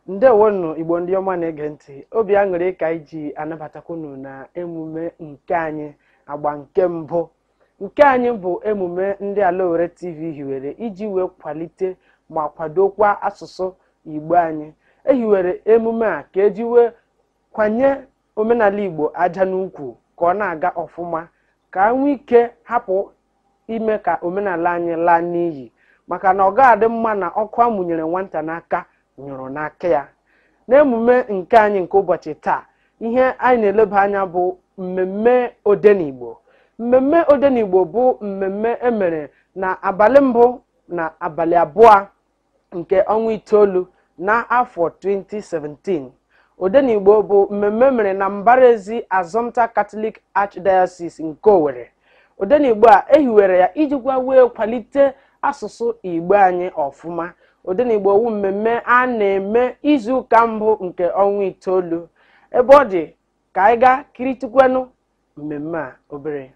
ndeewonụ igbo ndị ọma na-ege ntị obi aṅụrị ka anyị ji anabatakwa unu na emume nke anyị agba nke mbụ nke anyị bụ emume ndị ala owere tv hiwere iji wee kwalite ma kwadokwa asụsụ igbo anyị ehiwere emume a ka eji wee kwanye omenala igbo aja n'ukwu ka ọ na-aga ọfụma ka e nwee ike hapụ ime ka omenala anyị laa n'iyi maka na ọ ga-adị mma na ọkụ amụnyere nwata n'aka nyụrụ n'aka ya n'emume nke anyị nke ụbọchị taa ihe anyị na-eleba anya bụ mmemme odenigbo mmemme odenigbo bụ mmemme emere na abalị mbụ na abalị abụọ nke ọnwa itoolu n'afọ 2017 Odenigbo bụ mmemme mere na mbara ezi Assumpta Catholic Archdiocese nke Owerri. Odenigbo a ehiwere ya ijikwa wee kwalite asụsụ Igbo anyị ọfụma. Odenigbo wu mmemme a na-eme izu ụka mbụ nke ọnwa itoolu. Ebe ọ dị ka anyị gaa kiritụkwanụ mmemme a obere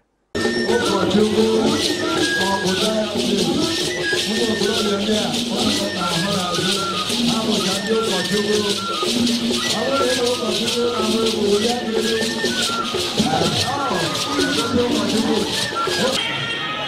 Thank you.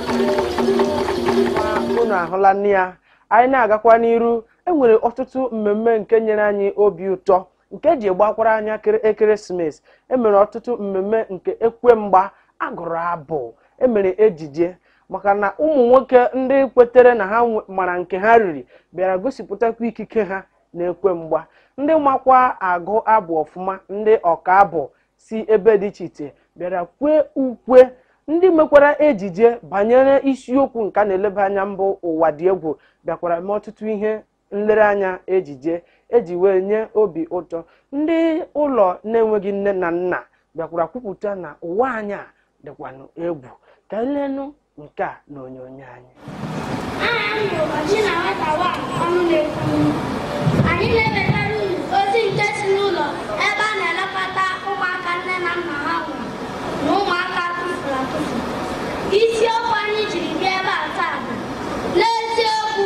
unu ahụlanụ ya anyị na-agakwa n'iru enwere ọtụtụ mmemme nke nyere anyị obi ụtọ nke ji gbakwara anya kere- ekeresimesi emere ọtụtụ mmemme nke ekwe mgba agụrụ abụ emere ejije maka na ụmụ nwoke ndị kwetere na ha nwe- mara nke ha riri bịara gosipụtakwa ikike ha n'ekwe mgba ndị makwa agụ abụ ọfụma ndị ọka abụ si ebe dị iche iche bịara kwee ukwe ndị mekwara ejije banyere isiokwu nke a na-eleba anya bụ ụwa dị egwu bịakwara mee ọtụtụ ihe nlereanya ejije eji wee nye obi ụtọ ndị ụlọ na-enweghị nne na nna bịakwara kwupụta na ụwa anyị a dịkwanụ egwu ka elenụ nke a na onyonyo anyị anyị na-ewetara unu ozi nke si n'ụlọ ebe a na-elekọta ụmụaka nne na nna ha nwụrụ na ụmụaka a tụfuru atụfu isiokwu anyị jiri bịa ebe a taa bụ n'eziokwu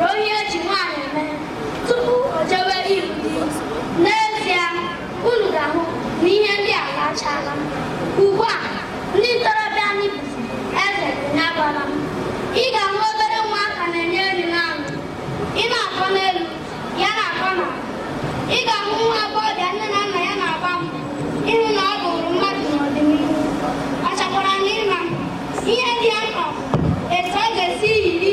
Ruo ihe eji nwaanyị eme tupu o jewe ịlụ di. N'ezie, unu ga-ahụ na ihe ndị a alachaala. Ugbu a, ndị ntorobịa anyị bụzi eze onye agwala m. Ị ga-ahụ obere ụmụaka na-enye nri n'anụ. Ị na-akọ n'elu, ya na-akọ n'ala. Ị ga-ahụ nwa agbọghọbịa nne na nna ya na-agba mbọ ịhụ na ọ bụrụ mmadụ n'ọdịnihu. Ọ chọkwara na ịma ihe dị ya mkpa bụ etu ọ ga-esi yiri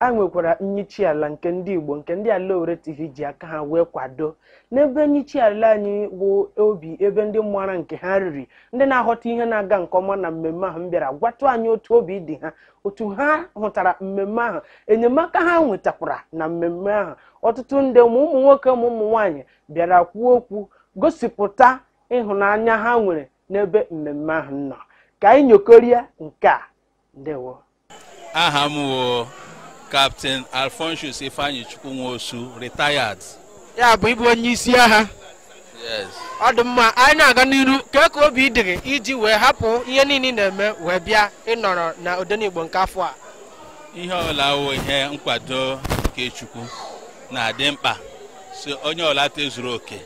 a nwekwara nyichi ala nke ndị Igbo nke ndị Ala Owerri TV ji aka ha wee kwado n'ebe nyichi ala anyị bụ obi ebe ndị mara nke ha riri ndị na-aghọta ihe na-aga nke ọma na mmemme ahụ m bịara gwatụ anyị otu obi dị ha otu ha hụtara mmemme ahụ enyemaka ha nwetakwara na mmemme ahụ ọtụtụ ndị ma ụmụ nwoke ma ụmụ nwaanyị bịara kwuo okwu gosipụta ịhụnanya ha nwere n'ebe mmemme ahụ nọ ka anyị nyokorie nke a ndewo aha m wo Captain Alphonsus Ifeanyichukwu Nwosu retired ya bụ ịbụ onye isi agha yes ọ dị mma anyị na-aga n'iru kee ka obi dị gị iji wee hapụ ihe niile ị na-eme wee bịa ịnọrọ na odenigbo nke afọ a ihe ọla awụ ihe nkwado nke Chukwu na-adị mkpa si onye ọla tozuru oke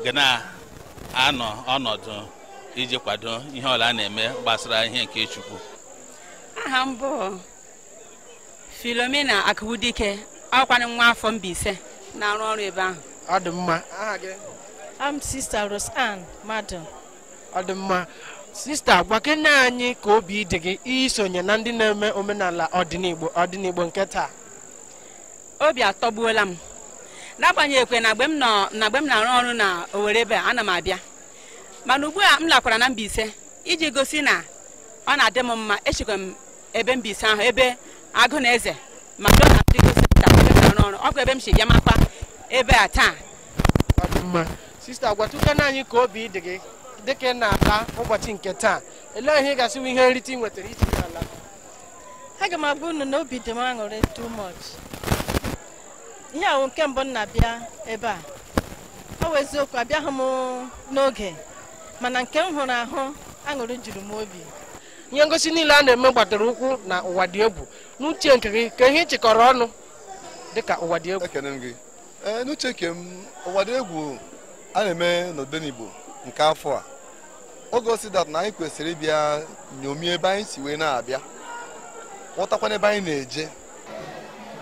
ga na-anọ ọnọdụ iji kwado ihe ọla a na-eme gbasara ihe nke Chukwu aha m bụ Filomena Akụwudike akwanụ nwa afọ Mbaise na-arụ ọrụ ebe ahụ ọ dị mma aha gị I'm Sista Rose Ann Madu ọ dị mma sista gwakene anyị ka obi dị gị isonye na ndị na-eme omenala odenigbo odenigbo nke taa obi atọgbuola m n'agbanyeghịkwe na mgbe m nọ na mgbe m na-arụ ọrụ na Owerri ebe a ana m abịa mana ugbu a m lakwara na Mbaise iji gosi na ọ na-adị m mma esikwa m ebe Mbaise ahụ ebe Aguneze Madonna Diagnostic Center ebe m na-arụ ọrụ ọ bụ ebe m si bịa maka ebe a taa Ọ dị mma sista gwatụkene anyị ka obi dị gị dịka ị na-ala ụbọchị nke taa elee ihe ị ga-asị wụ ihe nrite ị nwetara iji ala aga m agwa unu na obi dị m aṅụrị too much ihe a wụ nke mbụ m na-abịa ebe a ọ wụ eziokwu abịaghị m n'oge mana nke m hụrụ ahụ aṅụrị juru m obi ihe ngosi niile a na-eme gbadoro ụkwụ na ụwa dị egwu n'uche nke gị kee ihe ị chịkọrọ ọnụ dịka ụwa dị egwu ekene m gị ee n'uche nke m ụwa dị egwu a na-eme n'odenigbo nke afọ a o gosi that na anyị kwesịrị ịbịa nyomie ebe anyị si wee na-abịa ghọtakwana ebe anyị na-eje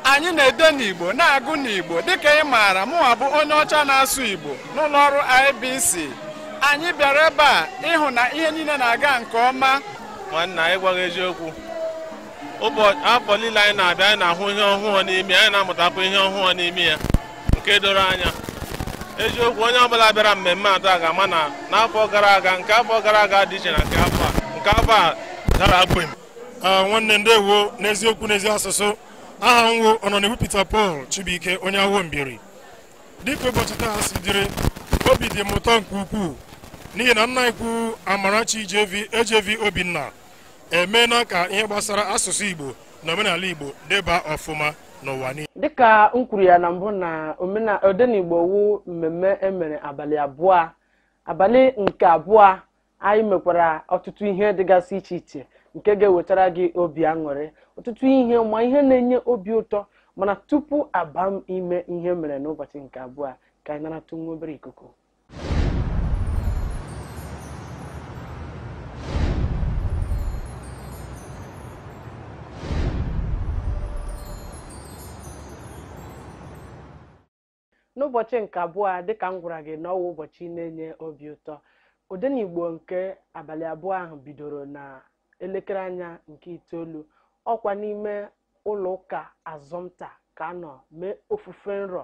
anyị na-ede n'igbo na-agụ n'igbo dịka ị maara mụwa bụ onye ọcha na-asụ igbo n'ụlọ ọrụ IBC anyị bịara ebe a ịhụ na ihe niile na-aga nke ọma nwanna anyị gwa gị eziokwu ụbọchị afọ niile anyị na-abịa anyị na-ahụ ihe ọhụụ n'ime anyị na-amụtakwa ihe ọhụụ n'ime ya nke doro anya eziokwu onye ọbụla bịara mmemme a taa ga-ama na n'afọ gara aga nke afọ gara aga dị iche na nke afọ a nke afọ a tara akpụ ah, nwanne ndewo n'eziokwu n'ezi asụsụ aha m wo Ọnọniwu Peter Paul Chibuike onye Awo Mbieri dịka ụbọchị taa si dịrị obi dị m ụtọ nke ukwuu n'ihi na nna ukwu Amarachi AJV Obinna emeela ka ihe gbasara asụsụ Igbo na omenala Igbo deba ọfụma n'ụwa niile. dịka m kwuru ya na mbụ na omena- odenigbo wu mmemme emere abalị abụọ abalị nke abụọ anyị mekwara ọtụtụ ihe dịgasị iche iche nke ga-ewetara gị obi aṅụrị ọtụtụ ihe ma ihe na-enye obi ụtọ mana tupu a baa n'ime ihe mere n'ụbọchị nke abụọ ka anyị naratụ nwa obere ikuku n'ụbọchị nke abụọ a dịka m gwara gị na ọ wụ ụbọchị na-enye obi ụtọ odenigbo nke abalị abụọ ahụ bidoro na elekere anya nke itoolu ọ kwa n'ime ụlọ ụka assumpta ka a nọ mee ofufe nru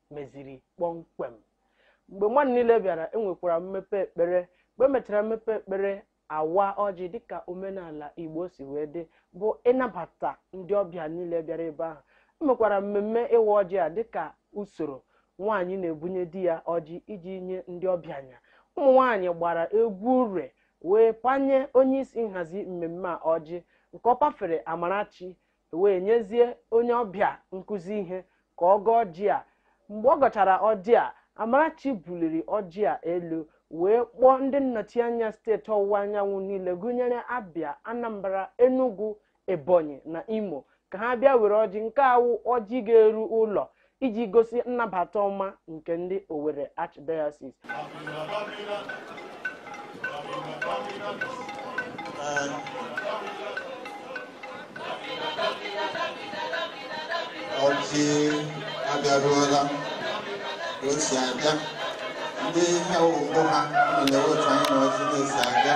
meziri kpọmkwem mgbe mmadụ niile bịara enwekwara mmepe ekpere mgbe emechara mmepe ekpere a waa ọjị dịka omenala igbo si wee dị bụ ịnabata ndị ọbịa niile bịara ebe ahụ emekwara mmemme ịwa ọjị a dịka usoro nwaanyị na-ebunye di ya ọjị iji nye ndị ọbịa nya ụmụ nwaanyị gbara egwu ure wee panye onye isi nhazi mmemme a ọjị nke ọ pafere amarachi ewee nyezie onye ọbịa nkụzi ihe ka ọ gọọ ọjị a mgbe ọ gọchara ọjị a amarachi buliri ọjị a elu wee kpọọ ndị nnọchianya steeti ọwụwa anyanwụ niile gụnyere abịa anambra enugu ebonyi na imo ka ha bịa were ọjị nke a wụ ọjị ga-eru ụlọ iji gosi nnabata ọma nke ndị Owerri Archdiocese. ọjị abịaruola ka o si abịa ndị ha wụ mbụ ha nọle otu anyị na ọjị na-esi abịa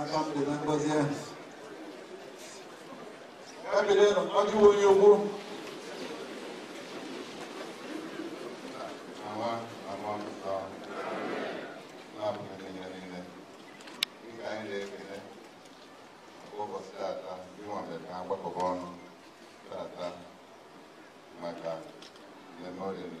aka m dị na ngọzi ahụ ya bere nọ ọ dịghị onye ogbo Ama ama mpụta na-abụghị ihe niile dịka anyị na-ekele maka ụbọchị tata ịnwa mere ka ha gbakọba ọnụ tata maka mmemme oriri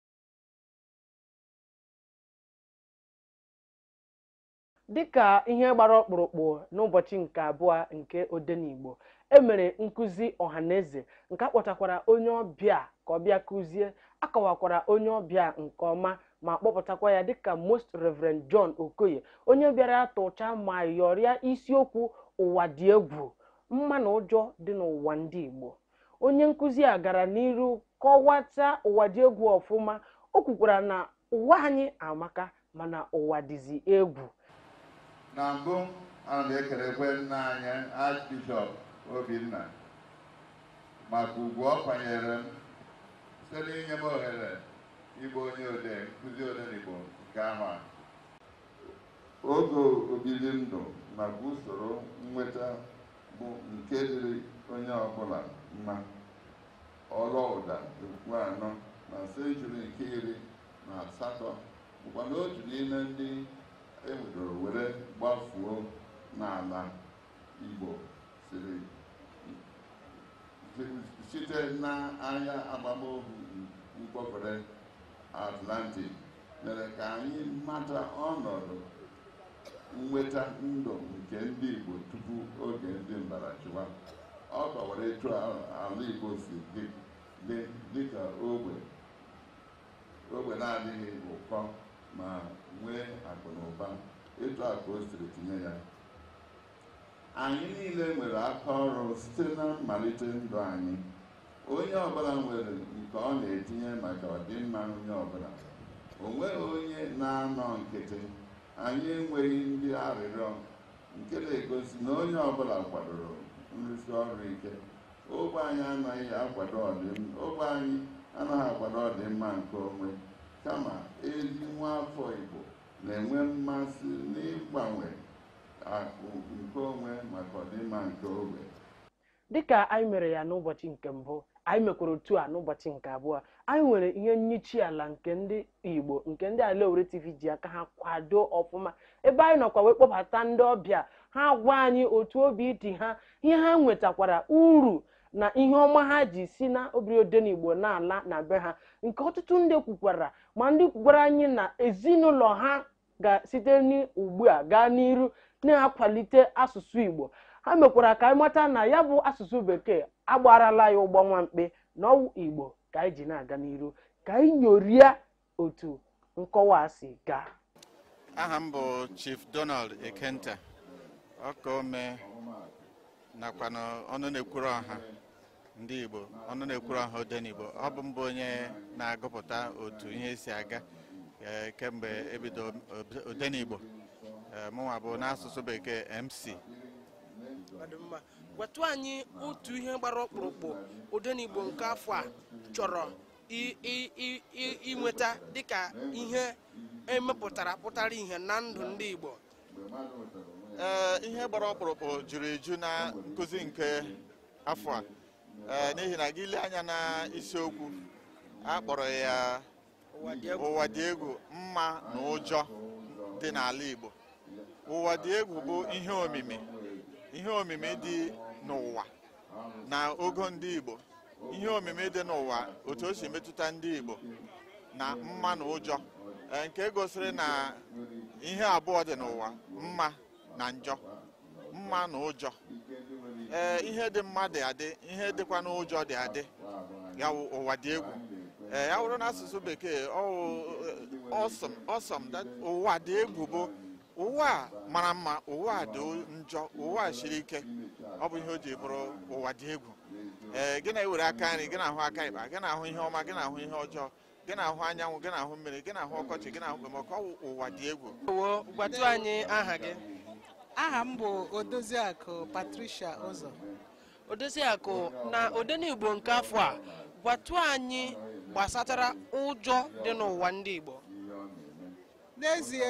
dịka ihe gbara ọkpụrụkpụ n'ụbọchị nke abụọ nke odenigbo emere nkụzi ọhaneze nke akpọtakwara onye ọbịa ka ọ bịa kụzie akọwakwara onye ọbịa nke ọma ma kpọpụtakwa ya dịka most reverend john okoye onye bịara tụcha ma yọrịa isiokwu ụwa dị egwu mma na ụjọ dị n'ụwa ndị igbo onye nkụzi a gara n'iru kọwacha ụwa dị egwu ọfụma o kwukwara na ụwa anyị amaka mana ụwa dịzi egwu na mbụ ana m ekelekwa nna anyị Archbishop Obinna maka ugwu ọ kwanyere m site n'inye m ohere ịbụ onye odee nkụzi odenigbo nke afọ a oge obibi ndụ nakwa usoro nnweta bụ nke dịrị onye ọbụla mma Olaudah Equiano na senchuri nke iri na asatọ bụkwanụ otu n'ime ndị e nwudoro were gbafuo n'ala Igbo siri site n'ahịa agbamohu mkpọfere Atlantic mere ka anyị mata ọnọdụ nnweta ndụ nke ndị Igbo tupu oge ndị mbịarachịwa. Ọ kọwara etu ala Igbo si dị dịka ogbe ogbe na-adịghị ụkọ ma nwee akụ na ụba etu a ka o siri tinye ya Anyị niile nwere aka ọrụ site na mmalite ndụ anyị. Onye ọ bụla nwere nke ọ na-etinye maka ọdịmma onye ọ bụla. O nweghị onye na-anọ nkịtị. Anyị enweghị ndị arịrịọ, nke na-egosi na onye ọ bụla kwadoro nrụsi ọrụ ike. Ogbe anyị anaghị akwado ọdịmma ogbe anyị anaghị akwado ọdịmma nke onwe, kama ezi nwa afọ Igbo na-enwe mmasị n'ịgbanwe akụ nke onwe maka ọdịmma nke ogbe. dịka anyị mere ya n'ụbọchị nke mbụ anyị mekwara otu a n'ụbọchị nke abụọ anyị nwere ihe nyichi ala nke ndị igbo nke ndị Ala Owere tv ji aka ha kwado ọfụma ebe anyị nọkwa wee kpọbata ndị ọbịa ha gwa anyị otu obi dị ha ihe ha nwetakwara uru na ihe ọma ha ji si na obiri odenigbo na-ala na be ha nke ọtụtụ ndị kwukwara ma ndị kwukwara anyị na ezinụlọ ha ga site n'ugbu a gaa n'iru na-akwalite asụsụ Igbo ha mekwara ka anyị mata na ya bụ asụsụ bekee a gbarala ya ụgbọ nwa mkpi na ọ wụ Igbo ka anyị ji na-aga n'iru ka anyị nyorie otu nkọwa a si gaa aha m bụ chief donald ekenta ọkaome nakwanụ ọnụ na-ekwuru ọha ndị Igbo ọnụ na-ekwuru ọha Odenigbo ọ bụ m bụ onye na-agụpụta otu ihe si aga e, kemgbe e bido Odenigbo e, mụnwa bụ n'asụsụ bekee MC gwatụ anyị otu ihe gbara ọkpụrụkpụ Odenigbo nke afọ a chọrọ inweta dịka ihe e mepụtara pụtara ihe na ndụ ndị Igbo ee eh, ihe gbara ọkpụrụkpụ juru eju na nkụzi nke afọ a eh, n'ihi na gị lee anya na isiokwu a kpọrọ ya ụwa dị egwu mma na ụjọ dị n'ala Igbo ụwa dị egwu bụ ihe omimi ihe omimi dị n'ụwa na ogo ndị Igbo ihe omimi dị n'ụwa otu o si metụta ndị Igbo na mma na ụjọ e, nke gosiri na ihe abụọ dị n'ụwa mma na njọ mma na ụjọ ee ihe dị mma dị adị ihe dịkwanụ ụjọ dị adị ya ụwa dị egwu ee ya wụrụ n'asụsụ bekee awesome awesome ụwa dị egwu bụ ụwa a mara mma ụwa a dị njọ ụwa a siri ike ọ bụ ihe o ji bụrụ ụwa dị egwu ee gị na-ewere aka nri gị na-ahụ aka ịkpa gị na-ahụ ihe ọma gị na-ahụ ihe ọjọọ gị na-ahụ anyanwụ gị na-ahụ mmiri gị na-ahụ ọkọchị gị na-ahụ okpomọkụ ọ bụ ụwa dị egwu Wo, gwatụ anyị aha gị aha m bụ odoziakụ patricia ụzọ odoziakụ na odenigbo nke afọ a gwatụ anyị gbasatara ụjọ dị n'ụwa ndị igbo n'ezie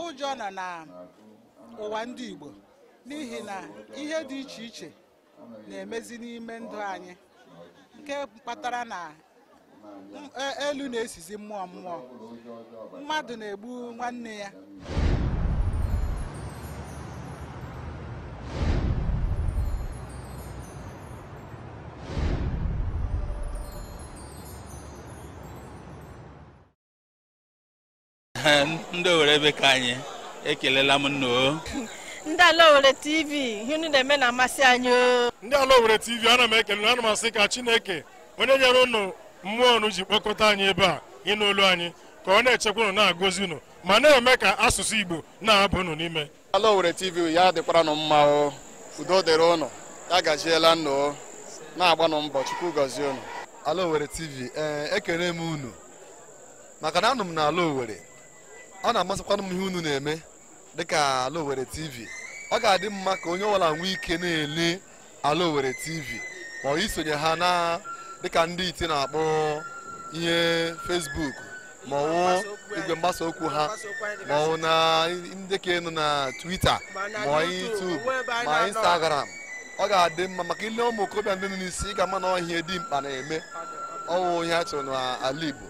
ụjọ nọ na ụwa ndị Igbo n'ihi na ihe dị iche iche na-emezi n'ime ndụ anyị nke kpatara na e, elu na-esizi mmụọ mmụọ mmadụ na-egbu nwanne ya ndị owere ebe ka anyị ekelela m unu o ndị ala owere tv ihe unu na-eme na-amasị anyị o ndị ala owere tv ana m ekele ana m asị ka chineke onye nyere unu mmụọ unu ji kpọkọta anyị ebe a ịnụ olu anyị ka ọ na-echekwa unu na-agọzi unu ma na-eme ka asụsụ igbo na-aba unu n'ime ala Owerri TV ya dịkwara nụ mma o udo dịrị ụnụ ya gaziela ụnụ o na-agbanụ mbọ Chukwu gọzie ụnụ ala Owerri TV ee ekele m unu maka na anọ m na ala Owerri ọ na-amasịkwanụ m ihe unu na-eme dịka ala Owerri TV ọ ga-adị mma ka onye ọbụla nwee ike na-ele ala Owerri TV ma ọ wụ isonye ha na dịka ndị iti na-akpọ ihe Facebook ma ọ wụ igwe mgbasa okwu ha ma ọ wụ na ndị ka ịnọ na Twitter ma YouTube ma Instagram ọ ga-adị mma maka i lee ụmụ okorobịa ndị nọ n'isi ị ga-ama na ọ ihe dị mkpa na-eme ọ wụ ihe a chọrọ n'ala Igbo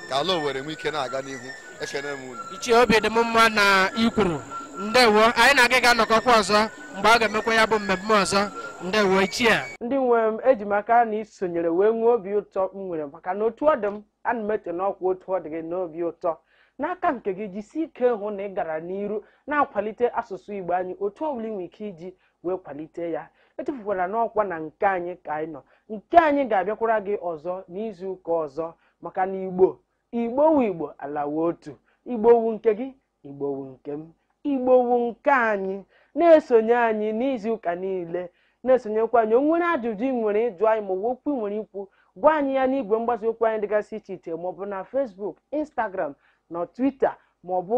ka ala Owerri nwee ike na-aga n'ihu ekene m unu ichie obi dị m mma na i kwuru ndewo anyị na gị ga-anọkọkwa ọzọ mgbe a ga-emekwa ya bụ mmemme ọzọ ndewo ichie ndị nwe m eji m aka na i sonyere wee nwee obi ụtọ m nwere maka na otu ọ dị m ana m eche na ọkwa otu ọ dị gị n'obi ụtọ n'aka nke gị jisie ike hụ na ị gara n'iru na-akwalite asụsụ igbo anyị otu ọ bụla ị nwere ike iji wee kwalite ya echefukwala na ọkwa na nke anyị ka anyị nọ nke anyị ga-abịakwara gị ọzọ n'izu ụka ọzọ maka na igbo igbo wu igbo ala wu otu igbo wu nke gị igbo wu nke m igbo wu nke anyị na-esonye anyị n'izu ụka niile na-esonyekwa anyị o nwere ajụjụ ị nwere ịjụ anyị ma ọ bụ okwu ị nwere ikwu gwa anyị ya n'igwe mgbasa okwu anyị dịgasị iche iche ma ọ bụ na Facebook Instagram na Twitter ma ọ bụ